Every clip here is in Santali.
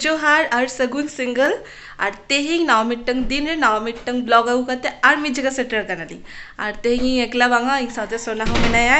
ᱡᱚᱦᱟᱨ ᱟᱨ ᱥᱟᱹᱜᱩᱱ ᱥᱤᱝᱜᱮᱞ ᱟᱨ ᱛᱮᱦᱮᱧ ᱱᱟᱣᱟ ᱢᱤᱫᱴᱟᱝ ᱫᱤᱱ ᱨᱮ ᱱᱟᱣᱟ ᱢᱤᱫᱴᱟᱝ ᱵᱞᱚᱜ ᱟᱹᱜᱩ ᱠᱟᱛᱮ ᱟᱨ ᱢᱤᱫ ᱡᱟᱭᱜᱟ ᱥᱮᱴᱮᱨ ᱠᱟᱱᱟᱞᱤᱧ ᱟᱨ ᱛᱮᱦᱮᱧ ᱤᱧ ᱮᱠᱞᱟ ᱵᱟᱝᱟ ᱤᱧ ᱥᱟᱶᱛᱮ ᱥᱳᱱᱟ ᱦᱚᱸ ᱢᱮᱱᱟᱭᱟ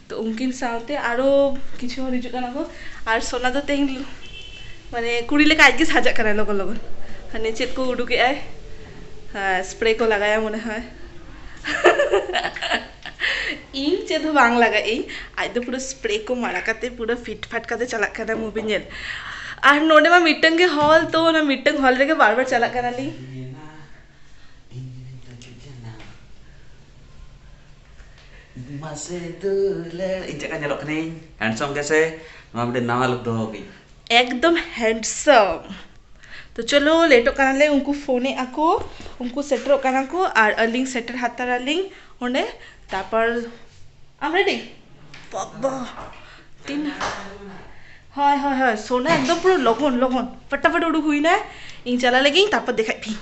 ᱛᱚ ᱩᱱᱠᱤᱱ ᱥᱟᱶᱛᱮ ᱟᱨᱚ ᱠᱤᱪᱷᱩ ᱦᱚᱲ ᱦᱤᱡᱩᱜ ᱠᱟᱱᱟ ᱠᱚ ᱟᱨ ᱥᱳᱱᱟ ᱫᱚ ᱛᱮᱦᱮᱧ ᱢᱟᱱᱮ ᱠᱩᱲᱤ ᱞᱮᱠᱟ ᱟᱡᱜᱮ ᱥᱟᱡᱟᱜ ᱠᱟᱱᱟᱭ ᱞᱚᱜᱚᱱ ᱞᱚᱜᱚᱱ ᱦᱟᱱᱮ ᱪᱮᱫ ᱠᱚ ᱩᱰᱩᱠ ᱮᱜ ᱟᱭ ᱥᱯᱨᱮ ᱠᱚ ᱞᱟᱜᱟᱣ ᱟᱭᱟ ᱢᱚᱱᱮ ᱦᱚᱭ ᱤᱧ ᱪᱮᱫ ᱦᱚᱸ ᱵᱟᱝ ᱞᱟᱜᱟᱣ ᱟᱹᱧ ᱟᱡ ᱫᱚ ᱯᱩᱨᱟᱹ ᱥᱯᱨᱮ ᱠᱚ ᱢᱟᱲᱟ ᱠᱟᱛᱮ ᱯᱩᱨᱟᱹ ᱯᱷᱤᱴ ᱯᱷᱟᱴ ᱠᱟᱛᱮ ᱪᱟᱞᱟᱜ ᱠᱟᱱᱟᱭ ᱢᱩᱵᱷᱤ ᱧᱮᱞ ᱟᱨ ᱱᱚᱰᱮ ᱢᱟ ᱢᱤᱫᱴᱟᱝ ᱜᱮ ᱦᱚᱞ ᱛᱚ ᱚᱱᱟ ᱢᱤᱫᱴᱟᱝ ᱦᱚᱞ ᱨᱮᱜᱮ ᱵᱟᱨ ᱵᱟᱨ ᱪᱟᱞᱟᱜ ᱠᱟᱱᱟᱞᱤᱧ ᱢᱟᱥᱮ ᱫᱩᱞᱮ ᱤᱧ ᱪᱮᱫ ᱞᱮᱠᱟ ᱧᱮᱞᱚᱜ ᱠᱟᱹᱱᱟᱹᱧ ᱦᱮᱱᱰᱥᱚᱢ ᱜᱮᱥᱮ ᱱᱚᱣᱟ ᱢᱤᱫᱴᱮᱱ ᱱᱟᱣᱟ ᱞᱩᱠ ᱫᱚᱦᱚ ᱠᱟᱹᱧ ᱮᱠᱫᱚᱢ ᱦᱮᱱᱰᱥᱚᱢ ᱛᱚ ᱪᱚᱞᱚ ᱞᱮᱴᱚᱜ ᱠᱟᱱᱟᱞᱮ ᱩᱱᱠᱩ ᱯᱷᱳᱱ ᱮᱫ ᱟᱠᱚ ᱩᱱᱠᱩ ᱥᱮᱴᱮᱨᱚᱜ ᱠᱟᱱᱟ ᱠᱚ ᱟᱨ ᱟᱹᱞᱤᱧ ᱥᱮᱴᱮᱨ ᱦᱟᱛᱟᱲ ᱟᱹᱞᱤᱧ ᱚᱸᱰᱮ ᱛᱟᱨᱯᱚᱨ ᱟᱢ ᱨᱮᱰᱤ ᱵᱟᱵᱟ ᱛᱤᱱ ᱦᱳᱭ ᱦᱳᱭ ᱦᱳᱭ ᱥᱳᱱᱟ ᱮᱠᱫᱚᱢ ᱯᱩᱨᱟᱹ ᱞᱚᱜᱚᱱ ᱞᱚᱜᱚᱱ ᱯᱷᱟᱴᱟᱯᱷᱟᱴᱤ ᱩᱰᱩᱠ ᱦᱩᱭᱱᱟᱭ ᱤᱧ ᱪᱟᱞᱟᱜ ᱞᱟᱹᱜᱤᱫ ᱛᱟᱨᱯᱚᱨ ᱫᱮᱠᱷᱟᱭᱮᱫ ᱯᱮᱭᱟᱹᱧ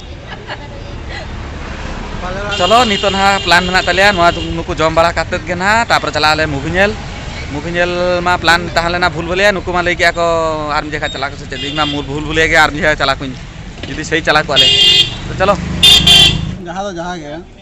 ᱪᱚᱞᱚ ᱱᱤᱛᱚᱜ ᱱᱟᱦᱟᱜ ᱯᱞᱟᱱ ᱢᱮᱱᱟᱜ ᱛᱟᱞᱮᱭᱟ ᱱᱚᱣᱟ ᱱᱩᱠᱩ ᱡᱚᱢ ᱵᱟᱲᱟ ᱠᱟᱛᱮ ᱜᱮ ᱱᱟᱦᱟᱜ ᱛᱟᱯᱚᱨ ᱪᱟᱞᱟᱜ ᱟᱞᱮ ᱢᱩᱵᱷᱤ ᱧᱮᱞ ᱢᱩᱵᱷᱤ ᱧᱮᱞ ᱢᱟ ᱯᱞᱟᱱ ᱛᱟᱦᱮᱸ ᱞᱮᱱᱟ ᱵᱷᱩᱞ ᱵᱷᱩᱞᱟᱹᱭᱟ ᱱᱩᱠᱩ ᱢᱟ ᱞᱟᱹᱭ ᱠᱮᱜᱼᱟ ᱠᱚ ᱟᱨ ᱢᱤᱫ ᱡᱚᱠᱷᱟ ᱪᱟᱞᱟᱜ ᱟᱠᱚ ᱥᱮ ᱪᱮᱫ ᱤᱧ ᱢᱟ ᱵᱷᱩᱞ ᱵᱷᱩᱞᱟᱹᱭᱟ ᱜᱮ ᱟᱨ ᱢᱤᱫ ᱡᱚᱠᱷᱟ ᱪᱟᱞᱟᱜ ᱟᱠᱚ ᱡᱩᱫᱤ ᱥᱮᱭ ᱪᱟᱞᱟᱣ ᱠᱚᱜᱼᱟ ᱞᱮ ᱛᱚ ᱪᱚᱞᱚ ᱡᱟᱦᱟᱸ ᱫᱚ ᱡᱟᱦᱟᱸ ᱜᱮ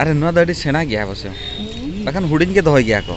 ᱟᱨᱮ ᱱᱚᱣᱟ ᱫᱚ ᱟᱹᱰᱤ ᱥᱮᱬᱟ ᱜᱮᱭᱟ ᱚᱵᱚᱥᱥᱚ ᱵᱟᱠᱷᱟᱱ ᱦᱩᱰᱤᱧ ᱜᱮ ᱫᱚᱦᱚᱭ ᱜᱮᱭᱟ ᱠᱚ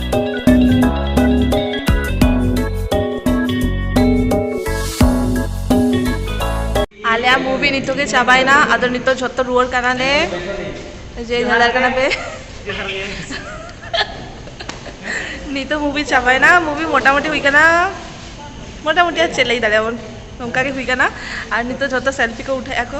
ᱟᱞᱮᱭᱟᱜ ᱢᱩᱵᱷᱤ ᱱᱤᱛᱚᱜ ᱜᱮ ᱪᱟᱵᱟᱭᱮᱱᱟ ᱟᱫᱚ ᱱᱤᱛᱚᱜ ᱡᱷᱚᱛᱚ ᱨᱩᱣᱟᱹᱲ ᱠᱟᱱᱟᱞᱮ ᱡᱮ ᱧᱮᱞ ᱠᱟᱱᱟ ᱯᱮ ᱱᱤᱛᱚᱜ ᱢᱩᱵᱷᱤ ᱪᱟᱵᱟᱭᱮᱱᱟ ᱢᱩᱵᱷᱤ ᱢᱚᱴᱟᱢᱩᱴᱤ ᱦᱩᱭ ᱠᱟᱱᱟ ᱢᱚᱴᱟᱢᱩᱴᱤ ᱟᱨ ᱪᱮᱫ ᱞᱟᱹᱭ ᱫᱟᱲᱮᱭᱟᱵᱚᱱ ᱱᱚᱝᱠᱟ ᱜᱮ ᱦᱩᱭ ᱠᱟᱱᱟ ᱟᱨ ᱱᱤᱛᱚᱜ ᱡᱷᱚᱛᱚ ᱥᱮᱞᱯᱷᱤ ᱠᱚ ᱩᱴᱷᱟᱹᱣᱮᱫᱼᱟ ᱠᱚ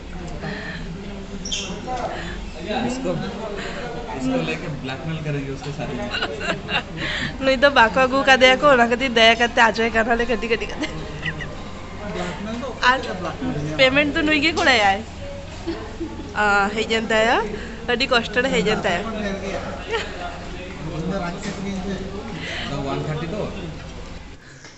ᱱᱩᱭ ᱫᱚ ᱵᱟᱠᱚ ᱟᱹᱜᱩ ᱠᱟᱫᱮᱭᱟ ᱠᱚ ᱚᱱᱟ ᱠᱷᱟᱹᱛᱤᱨ ᱫᱟᱭᱟ ᱠᱟᱛᱮ ᱟᱡᱚᱭ ᱠᱟᱱᱟᱞᱮ ᱠᱟᱹᱴᱤᱡ ᱠᱟᱹᱴᱤᱡ ᱠᱟᱛᱮ ᱟᱨ ᱯᱮᱢᱮᱱᱴ ᱫᱚ ᱱᱩᱭ ᱜᱮ ᱠᱚᱨᱟᱭᱟᱭ ᱦᱮᱡ ᱮᱱ ᱛᱟᱭᱟ ᱟᱹᱰᱤ ᱠᱚᱥᱴᱚ ᱨᱮ ᱦᱮᱡ ᱮᱱ ᱛᱟᱭᱟ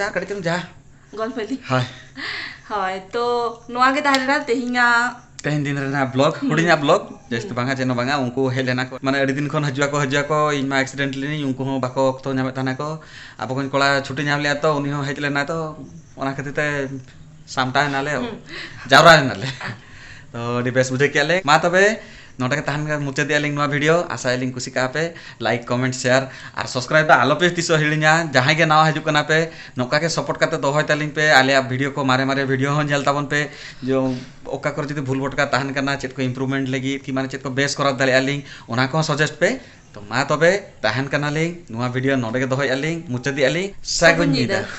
ᱡᱟ ᱠᱟᱹᱴᱤᱡ ᱪᱩᱞᱩᱝ ᱡᱟ ᱜᱚᱞᱯᱚ ᱤᱫᱤ ᱦᱳᱭ ᱦᱳᱭ ᱛᱚ ᱱᱚᱣᱟ ᱜᱮ ᱛᱟᱦᱮᱸ ᱞᱮᱱᱟ ᱛᱮᱦᱮᱧᱟᱜ ᱛᱮᱦᱮᱧ ᱫᱤᱱ ᱨᱮᱱᱟᱜ ᱵᱞᱚᱜ ᱦᱩᱰᱤᱧᱟᱜ ᱵᱞᱚᱜ ᱡᱟᱹᱥᱛᱤ ᱵᱟᱝᱟ ᱪᱮᱫ ᱦᱚᱸ ᱵᱟᱝᱟ ᱩᱱᱠᱩ ᱦᱮᱡ ᱞᱮᱱᱟ ᱠᱚ ᱢᱟᱱᱮ ᱟᱹᱰᱤ ᱫᱤᱱ ᱠᱷᱚᱱ ᱦᱤᱡᱩᱜ ᱟᱠᱚ ᱦᱤᱡᱩᱜ ᱟᱠᱚ ᱤᱧ ᱢᱟ ᱮᱠᱥᱤᱰᱮᱱᱴ ᱞᱤᱱᱟᱹᱧ ᱩᱱᱠᱩ ᱦᱚᱸ ᱵᱟᱠᱚ ᱚᱠᱛᱚ ᱧᱟᱢᱮᱫ ᱛᱟᱦᱮᱱᱟ ᱠᱚ ᱟᱵᱚ ᱠᱚᱧ ᱠᱚᱲᱟ ᱪᱷᱩᱴᱤ ᱧᱟᱢ ᱞᱮᱜᱼᱟ ᱛᱚ ᱩᱱᱤ ᱦᱚᱸ ᱦᱮᱡ ᱞᱮᱱᱟ ᱛᱚ ᱚᱱᱟ ᱠᱷᱟᱹᱛᱤᱨ ᱛᱮ ᱥᱟᱢᱴᱟᱣ ᱮᱱᱟᱞᱮ ᱡᱟᱣᱨᱟ ᱮᱱᱟᱞᱮ ᱛᱚ ᱟᱹᱰᱤ ᱵᱮᱥ ᱵᱩᱡᱷᱟᱹᱣ ᱠᱮᱜᱼᱟ ᱞᱮ ᱢᱟ ᱛᱚᱵᱮ ᱱᱚᱰᱮ ᱜᱮ ᱛᱟᱦᱮᱱ ᱠᱷᱟᱱ ᱢᱩᱪᱟᱹᱫᱮᱜᱼᱟ ᱞᱤᱧ ᱱᱚᱣᱟ ᱵᱷᱤᱰᱤᱭᱳ ᱟᱥᱟᱭ ᱟᱹᱞᱤᱧ ᱠᱩᱥᱤ ᱠᱟᱜᱼᱟ ᱯᱮ ᱞᱟᱭᱤᱠ ᱠᱚᱢᱮᱱᱴ ᱥᱮᱭᱟᱨ ᱟᱨ ᱥᱟᱵᱥᱠᱨᱟᱭᱤᱵ ᱫᱚ ᱟᱞᱚ ᱯᱮ ᱛᱤᱥᱚᱜ ᱦᱤᱲᱤᱧᱟ ᱡᱟᱦᱟᱸᱭ ᱜᱮ ᱱᱟᱣᱟ ᱦᱤᱡᱩᱜ ᱠᱟᱱᱟ ᱯᱮ ᱱᱚᱝᱠᱟ ᱜᱮ ᱥᱚᱯᱚᱨᱴ ᱠᱟᱛᱮ ᱫᱚᱦᱚᱭ ᱛᱟᱹᱞᱤᱧ ᱯᱮ ᱟᱞᱮᱭᱟᱜ ᱵᱷᱤᱰᱤᱭᱳ ᱠᱚ ᱢᱟᱨᱮ ᱢᱟᱨᱮ ᱵᱷᱤᱰᱤᱭᱳ ᱦᱚᱸ ᱧᱮᱞ ᱛᱟᱵᱚᱱ ᱯᱮ ᱡᱮ ᱚᱠᱟ ᱠᱚᱨᱮ ᱡᱩᱫᱤ ᱵᱷᱩᱞ ᱵᱷᱚᱴᱠᱟ ᱛᱟᱦᱮᱱ ᱠᱟᱱᱟ ᱪᱮᱫ ᱠᱚ ᱤᱢᱯᱨᱩᱵᱷᱢᱮᱱᱴ ᱞᱟᱹᱜᱤᱫ ᱠᱤ ᱢᱟᱱᱮ ᱪᱮᱫ ᱠᱚ ᱵᱮᱥ ᱠᱚᱨᱟᱣ ᱫᱟᱲᱮᱭᱟᱜᱼᱟ ᱞᱤᱧ ᱚᱱᱟ ᱠᱚᱦᱚᱸ ᱥᱟᱡᱮᱥᱴ ᱯᱮ ᱛᱚ ᱢᱟ ᱛᱚᱵᱮ ᱛᱟᱦᱮᱱ ᱠᱟᱱᱟᱞᱤᱧ ᱱᱚᱣᱟ ᱵᱷᱤᱰᱤᱭᱳ ᱱᱚᱰᱮ ᱜᱮ ᱫᱚᱦᱚᱭᱮᱜᱼᱟ ᱞᱤᱧ ᱢᱩᱪᱟᱹᱫᱮᱜᱼᱟ ᱞᱤᱧ ᱥᱟᱹᱜᱩᱱ ᱧᱤᱫᱟᱹ